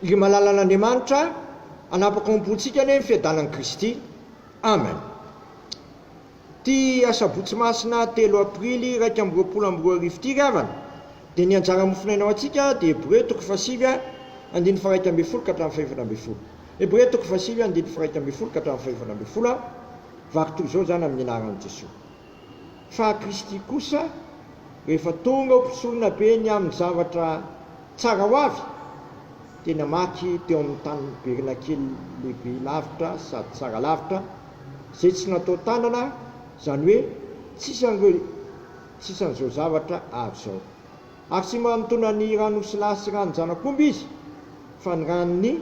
Ry malalan'Andriamanitra a, anapaka ao am-pontsika anie ny fiadanan'i Kristy. Amen. Ity asabotsy masina telo aprily iraika amby roapolo amby roa arivo ity ry havana dia ny anjara mofonaina ho antsika dia Hebreo toko fahasivy andininy faharaika ambin'ny folo ka hatramin'ny fahefatra ambin'ny folo. Hebreo toko fahasivy andininy faharaika ambin'ny folo ka hatramin'ny fahefatra ambin'ny folo a. Varitoa izao izany amin'ny anaran'i Jesoa. fa Kristy kosa rehefa tonga ho mpisoronabe be ny amin'ny zavatra tsara ho avy dia namaky teo amin'ny tabernakeliny lehibe lavitra sady tsara lavitra izay tsy natao tanana izany hoe tsisy an'ireo tsy isany izao zavatra avy izao ary tsy manotona ny ran'osilahy sy ranon-janak'omby izy fa ny ran'ny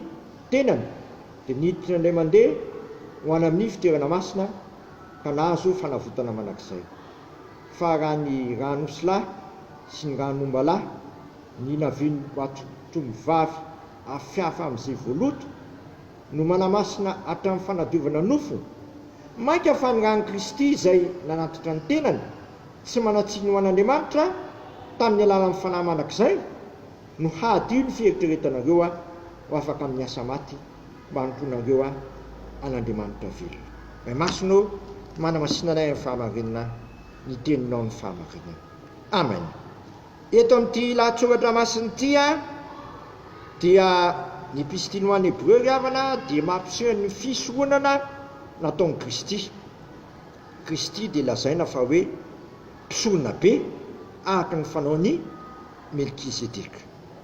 tenany dia niditra indray mandeha ho any amin'ny fitoerana masina ka nahazo fanavotana mandrakizay. Fa raha ny ran'osilahy sy ny ran'ombalahy ny navian'Ambohitriatompovavy hafahafa amin'izay voaloto no manamasina hatramin'ny fanadiovana nofo, mainka fa ny ran'i Kristy izay nanatitra ny tenany tsy manan-tsiny ho an'Andriamanitra tamin'ny alalan'ny Fanahy Mandrakizay no hahadio ny fieritreretanareo ho afaka amin'ny asa maty. mba hanompoanareo ahy, an'Andriamanitra velona. Ray Masina ô, manamasina anay amin'ny fahamarinana ny Teninao ny fahamarinana. Amen. Eto amin'ity lahatsoratra masina ity dia ny Epistily ho an'ny Hebreo ry havana dia mampiseho ny fisoronana nataon'i Kristy. Kristy dia lazaina fa hoe mpisoronabe araka ny fanaon'i Melkizedeka.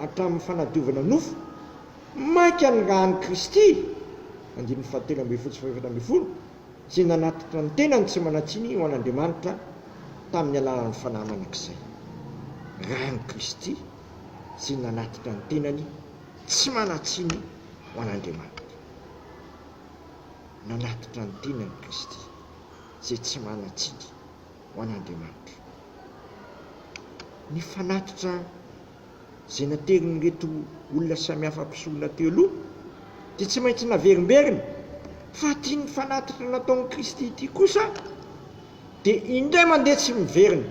hatramin'ny fanadiovana nofo, mainka nirahan'i Kristy, andininy fahatelo ambin'ny folo sy fahefatra ambin'ny folo, izay nanatitra ny tenany tsy manan-tsiny ho an'Andriamanitra tamin'ny alalan'ny Fanahy Mandrakizay. Ràn'i Kristy izay nanatitra ny tenany tsy manan-tsiny ho an'Andriamanitra. Nanatitra ny tenany Kristy izay tsy manan-tsiny ho an'Andriamanitra. Ny fanatitra izay naterin'ireto olona samihafa mpisorona teo aloha dia tsy maintsy naverimberina fa ity nifanatitra nataon'i Kristy ity kosa dia indray mandeha tsy miverina.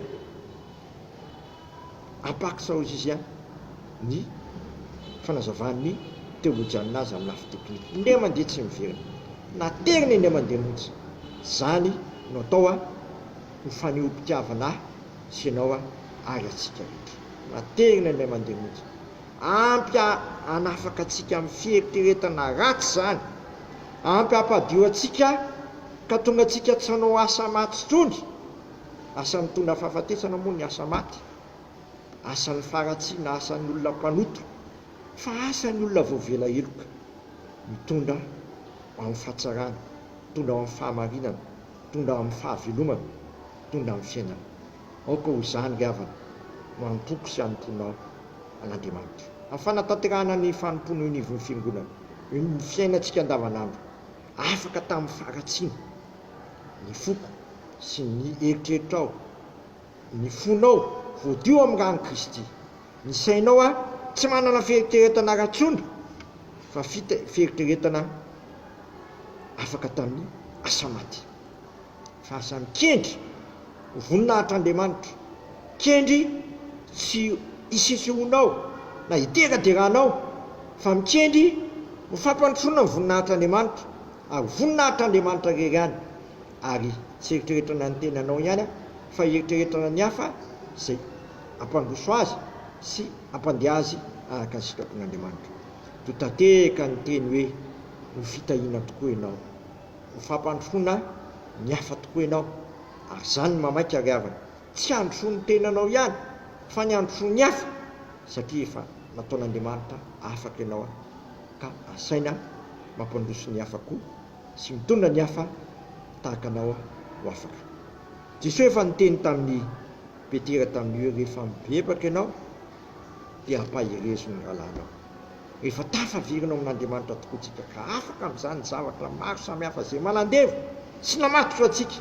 Apaksaozizia ny fanazavan'ny teolojianina azy amin'ny lafy teknika. Indray mandeha tsy miverina. Naterina indray mandeha mihitsy. Izany no atao ho fanehoam-pitiavana ahy sy ianao ary antsika rehetra. Matehina ilay mandeha mody. Ampy hanafaka antsika amin'ny fieritreretana ratsy izany. Ampy hampadio antsika ka tonga antsika tsy hanao asa maty intsony. Asa mitondra fahafatesana moa ny asa maty. Asan'ny faharatsiana, asan'ny olona mpanota. Fa asan'ny olona voavela heloka. Mitondra ho amin'ny fahatsarana, mitondra ho amin'ny fahamarinana, mitondra ho amin'ny fahavelomana, mitondra amin'ny fiainana. Aoka ho izany ny havana no hanompoako sy hanompoanao an'Andriamanitra. Amin'ny fanatanterahana ny fanompoana eo anivon'ny Fiangonana, eo amin'ny fiainantsika andavanandro, afaka tamin'ny faharatsiana ny foko sy ny eritreritrao, ny fonao voadio amin'ny ran'i Kristy, ny sainao ary tsy manana fieritreretana ratsondry fa fita fieritreretana afaka tamin'ny asa maty. fa samy kendry ho voninahitr'Andriamanitra, kendry tsy hisesehoanao na hiteraderanao, fa mikendry ho fampandrosoana ny voninahitr'Andriamanitra, ary ho voninahitr'Andriamanitra irery ihany, ary tsy eritreretana ny tenanao ihany aho, fa eritreretana ny hafa izay hampandroso azy sy hampandeha azy araka ny sitrapon'Andriamanitra. Totateka ny teny hoe, Ho fitahiana tokoa ianao. Ho fampandrosoana ny hafa tokoa ianao, ary izany no mamaika ry havana. Tsy handrosoa ny tenanao ihany, fa ny handrosoa ny hafa, satria efa nataon'Andriamanitra afaka ianao, ka asaina mampandroso ny hafa koa sy mitondra ny hafa tahaka anao ho afaka. Jesoa efa niteny tamin'i Petera tamin'ny hoe rehefa mibebaka ianao dia ampaherezo ny rahalahinao. Rehefa tafaverina ao amin'Andriamanitra tokoa isika ka afaka amin'izany ny zavatra maro samihafa izay manandevo sy namatotra antsika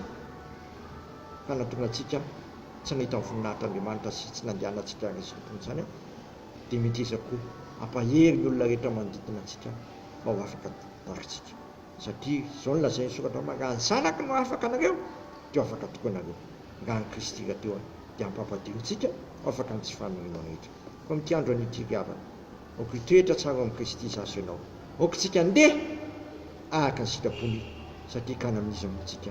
ka nahatonga antsika tsy nahita ny voninahitr'Andriamanitra sy tsy nandehanantsika ary izany toy izany, dia mety iza koa hampahery ny olona rehetra manodidina antsika mba ho afaka tahaka antsika? Satria izao no lazain'ny Soratra Masina, Raha ny Zanako no afaka anareo, dia ho afaka tokoa ianareo. Raha an'i Kristy rahateo dia hampampadio antsika ho afaka amin'ny tsy faniriana rehetra. Koa amin'ity andro anio ity ry havana, Aoka hitoetra tsara ao amin'i Kristy izaho sy ianao. Aoka isika handeha araka ny sitrapony, satria kany amin'izy no montsika,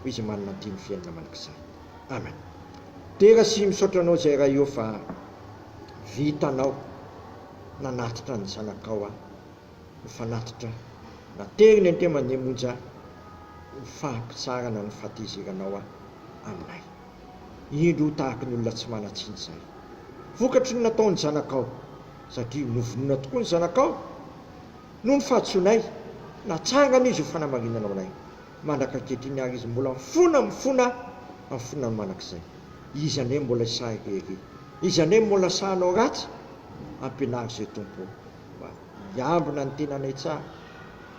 hoy Izy manana ny tian'ny fiainana mandrakizay. Amen. Dera sy misaotra anao izay Ray ô fa vitanao nanatitra ny zanakao aho ho fanatitra na tery ny antemany monja ho fahampitsarana ny fahatezeranao aho aminay. Indro ho tahaky ny olona tsy manan-tsiny izahay. Vokatry ny nataon'ny zanakao, satria novonoina tokoa ny zanakao, noho ny fahadisoanay, natsangany izy ho fanamarinana ho anay. Mandraka ankehitriny àry izy mbola mifona, mifona, mifona ny mandrakizay. Iza anie no mbola hisahiko erỳ? Iza anie no mbola sahy hanao ratsy? Ampianaro izay, Tompo ô, mba hiambina ny tenanay tsara,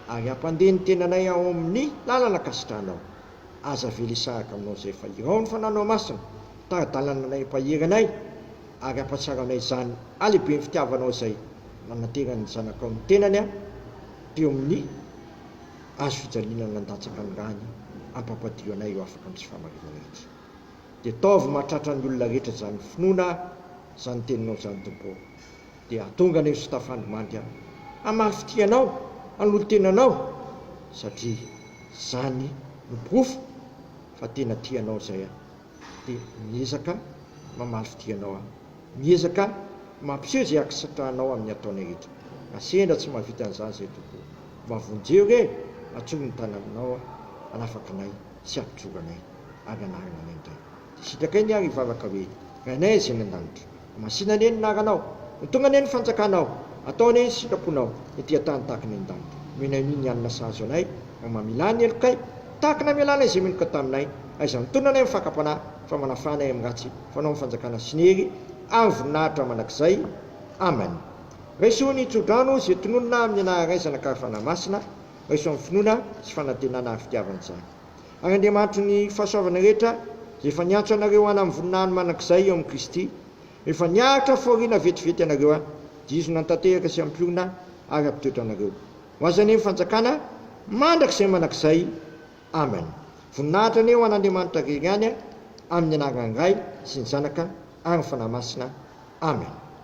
ary hampandeha ny tenanay ao amin'ny lalana ankasitrahanao. Aza avela hisaraka aminao izay fa irao ny fananao masina, tari-dalana anay mpahery anay, ary hampahatsiaro anay izany halehiben'ny fitiavanao izay nananteran'ny Zanakao ny tenany teo amin'ny hazo fijaliana nandatsaka ny rany hampampadio anay ho afaka amin'ny tsy fahamarinana rehetra. Dia ataovy mahatratra ny olona rehetra izany finoana izany teninao izany Tompo ô. Dia hatonga an'ireo tsy tafandry mandry aho hamaly fitia anao, hanolo-tena anao, satria izany no porofo fa tena tia anao izay aho. Dia miezaka mamaly fitia anao aho. Miezaka mampiseho izay hankasitrahanao amin'ny ataonay rehetra. Raha sendra tsy mahavita an'izany izahay Tompo ô, mba vonjeo re, atsoro ny tananao, hanafaka anay sy hampijoro anay, ary hanarina anay indray. Sitrakay ny ahy ry vavaka hoe, Rainay izay any an-danitra. Masina anie ny anaranao. Ho tonga anie ny fanjakanao. Atao anie ny sitraponao ety an-tany tahaka ny any an-danitra. Omenay anie ny hanina sahaza anay raha mamela ny helokay, tahaka ny hamelanay izay meloka taminay. Aiza ny tolona anay amin'ny fakam-panahy, fa manafaha anay amin'ny ratsy. Fanao ny fanjakana sy ny hery ary ny voninahitra mandrakizay. Amen. Raiso ny tso-drano izay tononina amin'ny anaranay Zanak'Ary Fanahy Masina. Raiso amin'ny finoana sy fanantenana ary fitiavana izany. ary Andriamanitry ny fahasoavana rehetra, izay efa niantso anareo hana amin'ny voninahiny mandrakizay eo amin'i Kristy, rehefa niaritra fahoriana vetivety ianareo aho, dia Izy no hanatanteraka sy hampihorina ary hampitoetra anareo. Ho Azy anie ny fanjakana mandrakizay mandrakizay. Amen. Voninahitra anie ho an'Andriamanitra rery ihany, amin'ny anaran'ny Ray sy ny Zanaka ary ny Fanahy Masina. Amen.